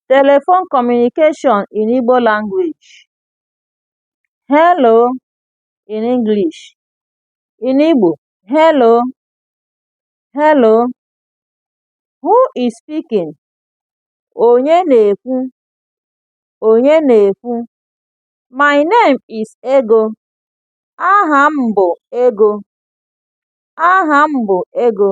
Telephone communication in Igbo language. Hello in English. In Igbo, hello, hello. Who is speaking? Onye na-ekwu? Onye na-ekwu? My name is Ego. Aha m bụ Ego. Aha m bụ Ego.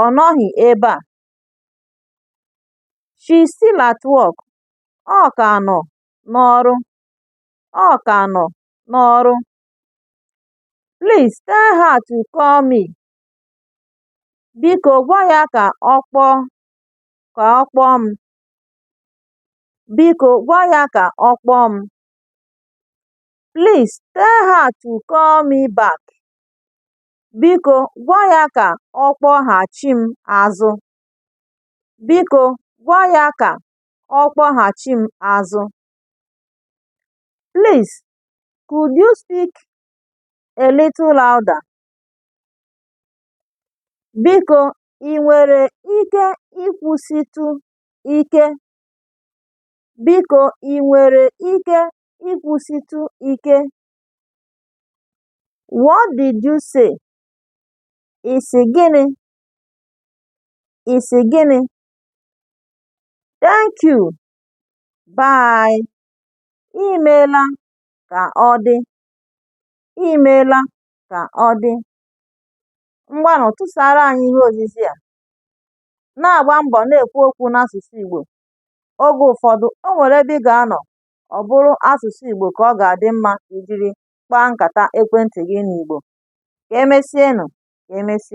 Ọ nọghị ebe a. She's still at work. Ọ ka nọ n'ọrụ. Ọ ka nọ n'ọrụ. Please tell her to call me. Biko gwa ya ka ọ kpọọ ka ọ kpọọ m. Biko gwa ya ka ọ kpọọ m. Please tell her to call me back. Biko gwa ya ka ọ kpọghachi m azụ. Biko gwa ya ka ọ kpọghachi m azụ. Please, could you speak a little louder? Biko, i nwere ike ikwusịtụ ike? Biko, i nwere ike ikwusịtụ ike? What did you say? Ị sị gịnị? Ị sị gịnị? Thank you. Bye. I meela ka ọ dị. I meela ka ọ dị. Ngwanụ tụsara anyị ihe ozizi a. Na-agba mbọ na-ekwu okwu n'asụsụ Igbo. Oge ụfọdụ, o nwere ebe ị ga-anọ, ọ bụrụ asụsụ Igbo ka ọ ga-adị mma ijiri kpaa nkata ekwentị gị n'Igbo. Ka emesịa nụ. Ka emesịa.